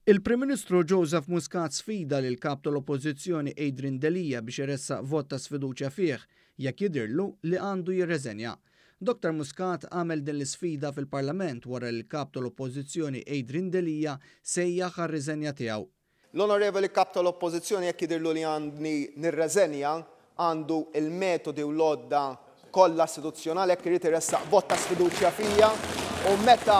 Il-Prim Ministru Joseph Muscat sfida lill-Kap tal-Oppożizzjoni Adrian Delia biex iressaq vot ta' sfiduċja fih jekk jidhirlu li għandu jirreżenja. Doctor Muscat għamel din l-isfida fil-Parlament wara li l-Kap tal-Oppożizzjoni Adrian Delia sejjaħ għar-riżenja tiegħu. L-Onorevoli Kap tal-Oppożizzjoni jekk jidhirlu li għandni nirreżenja għandu l-metodi u l-għodda kollha istituzzjonali jekk irid iressaq vot ta' sfiduċja fija u meta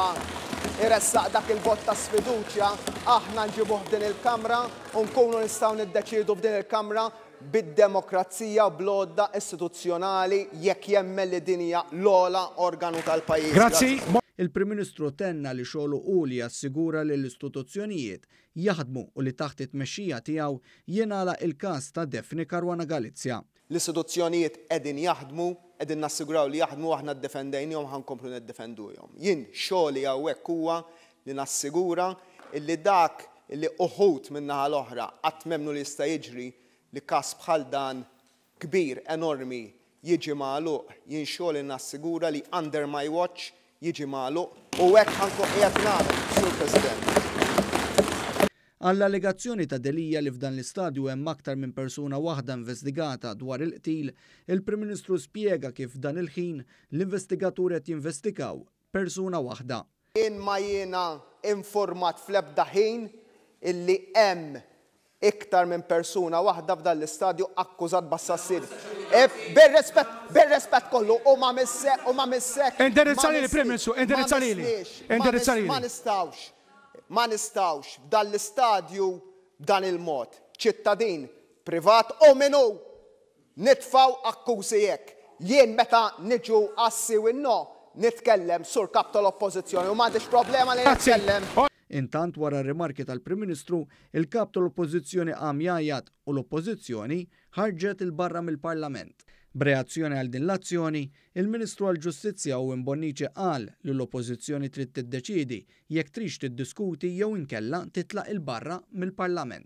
jressaq dak il-vot ta' sfiduċja aħna nġibuh f'din il-Kamra u nkunu nistgħu niddeċiedu f'din il-Kamra bid-demokrazija u bl-għodda istituzzjonali jekk jemmen li din hija l-ogħla organu tal-pajjiż. Grazzi. Il-Prim Ministru tenna li xogħlu hu li jassigura li l-istituzzjonijiet jaħdmu u li taħt it-tmexxija tiegħu jingħalaq il-każ ta' Daphne Caruana Galizia. L-istituzzjonijiet qegħdin jaħdmu, qegħdin nassiguraw li jaħdmu, aħna ddefendejnihom u ħa nkomplu niddefenduhom. Jien xogħli hawnhekk huwa li nassigura illi dak illi uħud min-naħa l-oħra qatt m'emmnu li jista' jiġri li każ bħal dan kbir, enormi, jiġi magħluq, jien xogħli nassigura li under my watch jiġi magħluq u hekk ħa nkun qiegħed nagħmel, Sur President. Għall-allegazzjoni ta' Delia li f'dan l-istadju hemm aktar minn persuna waħda investigata dwar il-qtil, il-Prim Ministru spjega kif f'dan il-ħin l-investigaturi qed jinvestigaw persuna waħda. Jien ma jiena informat fl-ebda ħin illi hemm iktar minn persuna waħda f'dan l-istadju akkużat b'assassini. Bir-rispett, bir-rispett kollu, u ma missek, u ma missek, ma Indirizza lili, Prim missni, Ministru, ma indirizza lili. missniex, ma Indirizza miss, ma lili. nistgħux, ma nistgħux f'dan l-istadju b'dan il-mod. Ċittadin privat u min hu! Nitfgħu akkużi hekk. Jien meta niġu għas-si u n-no, nitkellem, Sur Kap tal-Oppożizzjoni, u m'għandix problema li nitkellem. Intant wara r-rimarki tal-Prim Ministru, il-Kap tal-Oppożizzjoni qam jgħajjat u l-Oppożizzjoni ħarġet 'il barra mill-Parlament. B'reazzjoni għal din l-azzjoni, il-Ministru għall-Ġustizzja Owen Bonnici qal li l-Oppożizzjoni trid tiddeċiedi jekk trix tiddiskuti jew inkella titlaq 'il barra mill-Parlament.